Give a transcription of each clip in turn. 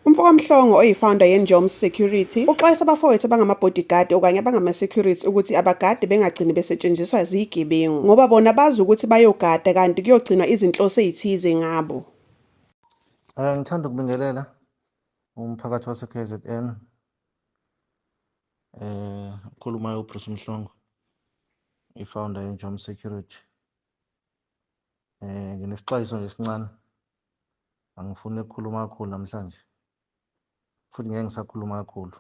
UMfokaMhlongo oyifounder yeNjoms Security uxwayisa abafowethu abangama-bodyguard okanye abangama-security ukuthi abagade bengagcini besetshenziswa ziyigebengu ngoba bona bazi ukuthi bayogada kanti kuyogcinwa izinhloso ezithize ngabo. Eh, ngithanda ukubingelela umphakathi wase-KZN. Eh ukhulumayo uBruce Mhlongo i-founder yeNjom Security. Eh nginesixwayiso nje esincane. Angifuni ukukhuluma kakhulu namhlanje. Futhi ngeke ngisakhuluma kakhulu.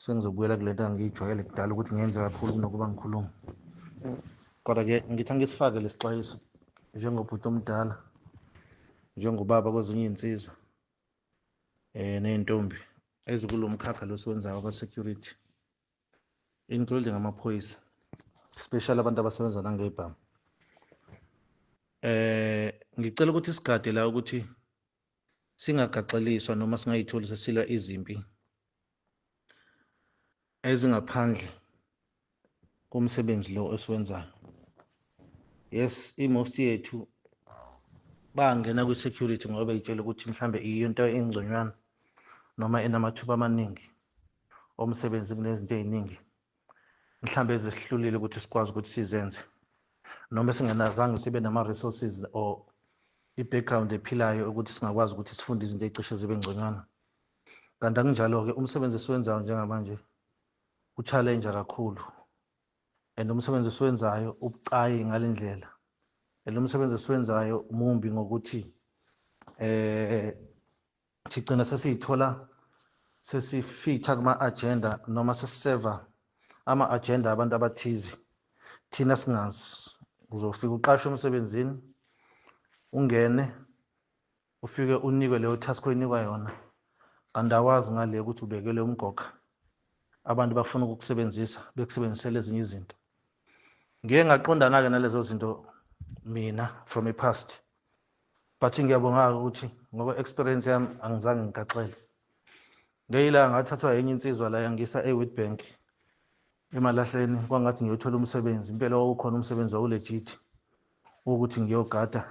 Sengizobuyela kule nto angiyijwayele kudala ukuthi ngenze kakhulu kunokuba ngikhulume. Kodwa-ke ngithi angisifake lesixwayiso njengobhuti omdala, njengobaba kwezinye iy'nsizwa. eh nezintombi ezikulomkhakha losiwenzayo aba security including ngamaphoyisa especially abantu abasebenza nangebhamu eh ngicela ukuthi sigade la ukuthi singagaxeliswa noma singayitholi sesilwa izimpi ezingaphandle komsebenzi lo esiwenzayo yes i-most yethu bangena kwi-security ngoba beyitshela ukuthi mhlambe iyinto engconywana noma enamathuba amaningi omsebenzi kunezinto ey'ningi mhlambe ezisihlulile ukuthi sikwazi ukuthi sizenze noma singenazange sibe nama-resources or i-background ephilayo ukuthi singakwazi ukuthi sifunde izinto ey'cishe zibe ngconywana kanti akunjalo-ke umsebenzi esiwenzayo njengamanje uchallenge kakhulu and umsebenzi esiwenzayo ubucayi ngale ndlela and umsebenzi esiwenzayo mumbi ngokuthi eh sigcina sesiyithola sesifitha kuma-agenda noma sesiseva ama-agenda abantu abathize thina singazi uzofika uqashe emsebenzini ungene Ufike unikwe leyo task oyinikwa yona kanti awazi ngale ukuthi ubekelwe umgoga. Abantu bafuna ukukusebenzisa bekusebenzisela ezinye izinto. Ngike ngaqondana-ke nalezo zinto mina from a past but ngiyabonga-ke ukuthi ngoba experience yami angizange ngigaxele ngeyila ngathathwa yenye insizwa la yangisa e-witbank emalahleni kwangathi ngiyothola umsebenzi impela wawukhona umsebenzi wawulejithi wokuthi ngiyogada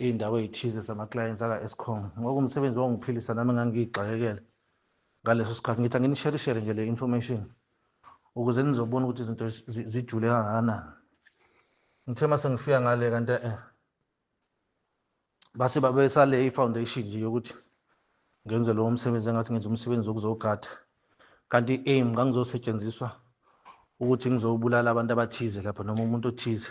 iy'ndawo ey'thize zama-clients aka-escom ngoku umsebenzi wangiphilisa nami ngangiyigxakekele ngaleso sikhathi ngithi anginisherishere nje le information ukuze nizobona ukuthi izinto zijule kangakanani ngithe uma sengifika ngale kanti eh base babesale i-foundation nje yokuthi ngenze lowo msebenzi engathi ngenza umsebenzi wokuzogada kanti i-aim ngangizosetshenziswa ukuthi ngizobulala abantu abathize lapho noma umuntu othize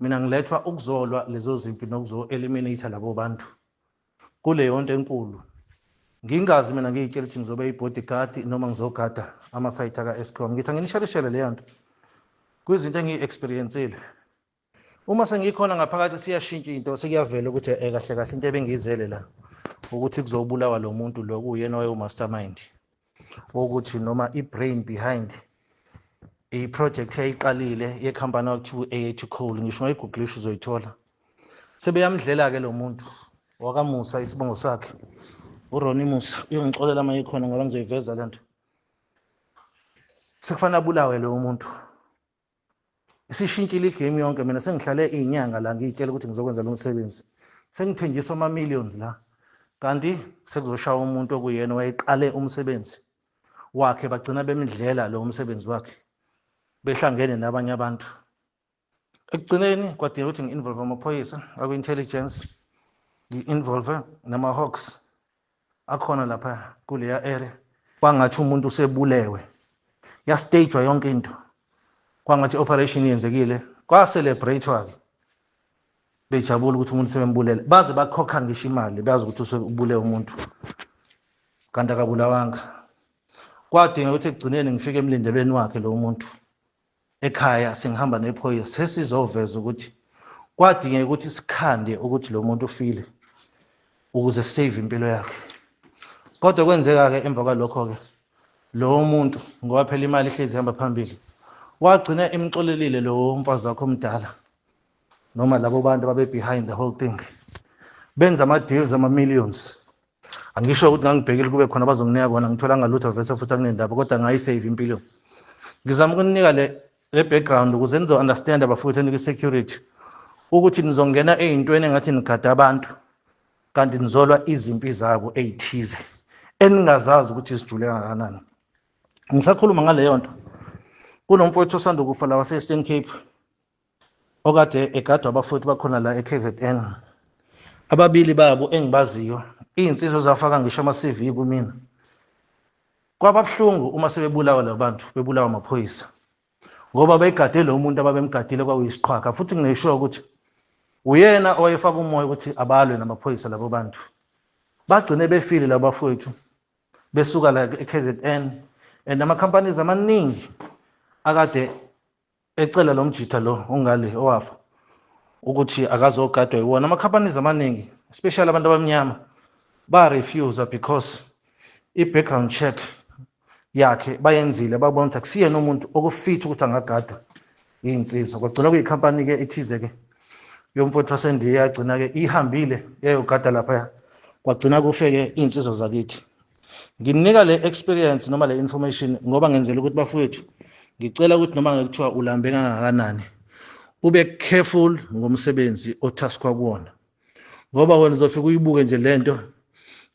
Mina ngilethwa ukuzolwa lezo zimpi nokuzo eliminate labo bantu kuleyonto enkulu ngingazi mina ngiyitshela ukuthi ngizobe i-bodyguard noma ngizogada amasayithi aka-escom ngithi anginishelishele leyo nto kwizinto engiyi-experiencile uma sengikhona ngaphakathi siyashintsha into sekuyavela ukuthi e kahle kahle into ebengiyizele la ukuthi kuzobulawa lo muntu lo kuwuyena wayewumastermind wokuthi noma i-brain behind i-project eyayiqalile yekhampani okuthiwa u-AH Cole ngisho ungayigugulisha uzoyithola sebeyamdlela-ke lo muntu wakamusa isibongo sakhe uroni musa uyongixolela uma ikhona ngoba ngizoyiveza le nto sekufanele abulawe lowo muntu isishintshile igame yonke mina sengihlale iy'nyanga la ngiyitshela ukuthi ngizokwenza lo msebenzi sengithenjiswa ama-millions la kanti sekuzoshaya umuntu okuyena wayeqale umsebenzi wakhe bagcina bemdlela lo msebenzi wakhe behlangene nabanye abantu ekugcineni kwadinga ukuthi ngi-involve amaphoyisa akwi-intelligence ngi-involve nama-hawks akhona lapha kuleya area kwangathi umuntu usebulewe yastagwa yonke into kwangathi operation yenzekile kwacelebrate-wa-ke bejabula ukuthi umuntu sebembulele baze bakhokha ngisho imali bazi ukuthi usebule umuntu kanti akabulawanga kwadinga ukuthi ekugcineni ngifike emlindelweni wakhe lo muntu ekhaya sengihamba nephoyisa sesizoveza ukuthi kwadingeka ukuthi sikhande ukuthi lo muntu ufile ukuze save impilo yakhe kodwa kwenzeka-ke emva kwalokho-ke lowo muntu ngoba phela imali ihlezi ihamba phambili wagcina emxolelile lowo mfazi wakho omdala noma labo bantu ababe-behind the whole thing benza ama-deals ama-millions angisho ukuthi ngangibhekile kube khona bazonginika kona ngitholanga lutho vese futhi akunendaba kodwa ngayisave impilo ngizama ukuninika le le background ukuze nizo-understand abafowethu enikwi-security ukuthi nizongena ey'ntweni engathi nigada abantu kanti nizolwa izimpi zabo ey'thize eningazazi ukuthi zijule kangakanani ngisakhuluma ngaleyo nto kunomfowethu osanda ukufa la wase-eastern cape okade egadwa abafowethu bakhona la eKZN ababili babo engibaziyo izinsizwa zafaka ngisho ama-CV kumina kwababuhlungu uma sebebulawa labantu bebulawa amaphoyisa ngoba bayigade lo muntu ababemgadile kwakuyisiqhwaga futhi ngingesho ukuthi uyena owayefaka umoya ukuthi abalwe namaphoyisa labo bantu bagcine befile labo bafowethu besuka la e-KZN and ama-companies amaningi akade ecela lo mjitha lo ongale owafa ukuthi akazogadwa yiwona ama-companies amaningi especially abantu abamnyama ba-refusa because i-background check yakhe bayenzile babona ukuthi akusiyena umuntu okufitha ukuthi angagadwa iy'nsizwa kwagcina kuyikhampani-ke ithize-ke yomfowethu wasendiya yagcina-ke ihambile yayogada laphaya kwagcina kufe-ke iy'nsizwa zakithi ngimnika le experience noma le information ngoba ngenzela ukuthi bafowethu ngicela ukuthi noma ngekuthiwa ulambe kangakanani ube careful ngomsebenzi othaskwa kuwona ngoba wena uzofika uyibuke nje lento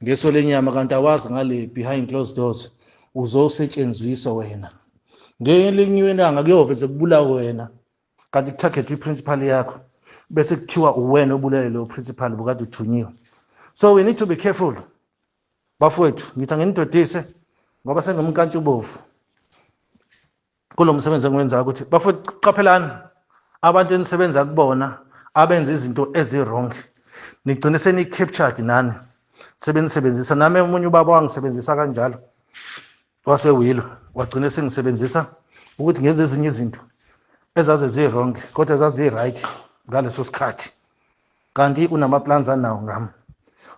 ngeso lenyama kanti awazi ngale behind closed doors uzosetshenziswa wena ngelinye ilanga kuyove sekubulawa wena kanti kuthagethwa i-principal yakho bese kuthiwa uwena obulele lowo principal bukade uthunyiwe so we need to be careful bafowethu ngithi anginidodise ngoba sengimkantshubovu kulo msebenzi engiwenzayo ukuthi bafowethu qaphelani abantu enisebenza kubona abenza izinto ezi-wrong nigcine seniyi-captured nani sebenisebenzisa nami omunye ubaba wangisebenzisa kanjalo wasewilo wagcine sengisebenzisa ukuthi ngenze ezinye izinto ezaze zirongi kodwa zaziyi-right ngaleso sikhathi kanti unamaplans anawo ngami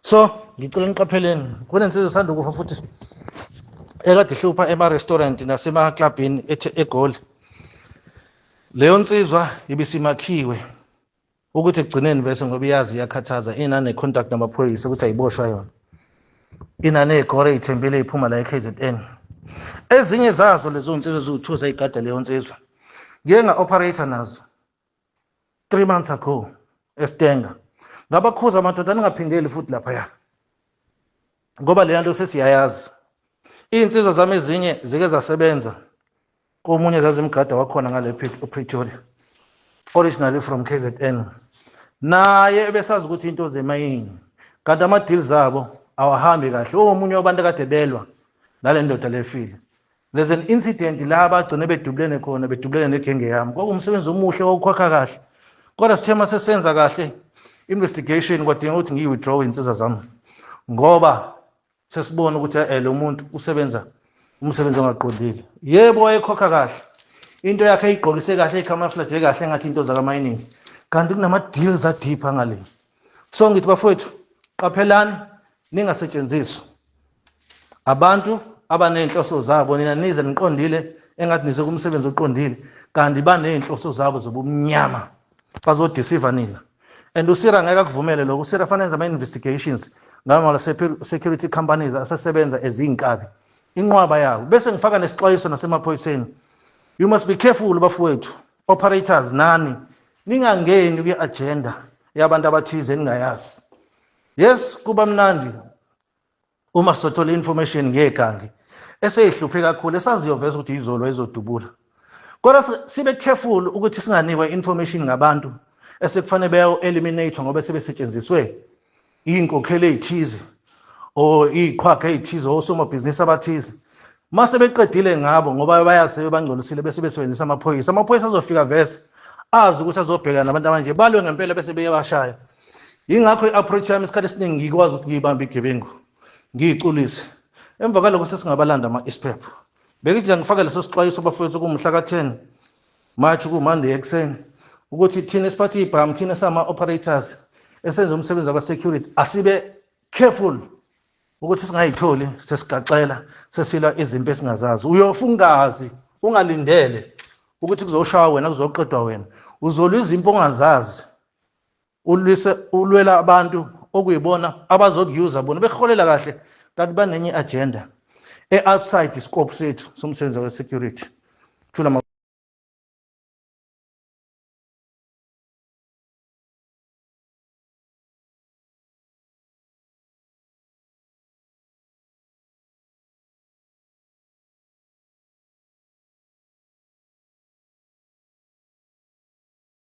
so ngicela niqapheleni kunensizwa esanda ukufa futhi ekade ihlupha ema-restaurant nasemaklabhini egoli leyo nsizwa ibisimakhiwe ukuthi ekugcineni bese ngoba iyazi iyakhathaza inane-contact namaphoyisa ukuthi ayiboshwa yona inaney'gore iy'thembile iphuma la e-k z n ezinye zazo lezo nsizwa eziwu-two zayigada leyo nsizwa ngiye nga-operator nazo 3 months ago eStenga ngabakhuza amadoda ningaphindeli futhi lapha ya ngoba lena nto sesiyayazi iy'nsizwa zami ezinye zike zasebenza komunye zazimgada wakhona ngale Pretoria originally from KZN naye ebesazi ukuthi into zemayini kanti ama-deals abo awahambi kahle omunye wabantu akade belwa nale ndoda lefile there's an incident la bagcine bedubulene khona bedubulene negenge yami kwakumsebenzi omuhle wawukhwakha kahle kodwa sithe uma sesenza kahle investigation kwadinga ukuthi ngiyi-withdraw iy'nsiza zami ngoba sesibona ukuthi eh, lo muntu usebenza umsebenzi ongaqondile yebo wayekhokha kahle into yakhe ayigqokise kahle icamouflage kahle engathi into zakamayiningi kanti kunama-deals adipha ngale so ngithi bafowethu qaphelani ningasetshenziswa abantu abanezinhloso zabo nina nize niqondile engathi nize kumsebenzi oqondile kanti banezinhloso zabo zobumnyama bazodisiva nina and usira ngeke akuvumele lokho usira fanele enze ama-investigations ngamala security companies asesebenza ezinkabi inqwaba yabo bese ngifaka nesixwayiso nasemaphoyiseni you must be careful bafowethu operators nani ningangeni kwi-agenda yabantu abathize eningayazi yes kuba mnandi uma sothola information ngegangi eseyihluphe kakhulu esaziyoveza ukuthi izolo ezodubula kodwa sibe careful ukuthi singanikwa information ngabantu esekufanele beyo eliminate ngoba sebesetshenziswe inkokhelo ezithize or iqhwaga ezithize osomabhizinisi abathize mase beqedile ngabo ngoba bayazi sebebangcolisile bese besebenzisa amaphoyisa amaphoyisa azofika vese azi ukuthi azobhekana nabantu abanje balwe ngempela bese beyabashaya yingakho i-approach yami isikhathi esiningi ngikwazi ukuthi ngiyibambe igebengu ngiyiculise emva kwaloko sesingabalanda ama-isiphepho beke nje ngifaka leso sixwayiso bafowethu kumhla ka-10 march kumonday ekuseni ukuthi thina esiphathe ibhamu thina sama-operators esenza umsebenzi waka-security asibe careful ukuthi singayitholi sesigaxela sesilwa izimpi esingazazi uyofa ungazi ungalindele ukuthi kuzoshawa wena kuzoqedwa wena uzolwa izimpi ongazazi ulwise ulwela abantu okuyibona abazokuyuza bona beholela kahle kanti banenye agenda e-outside iscope sethu somsebenzi we-security thula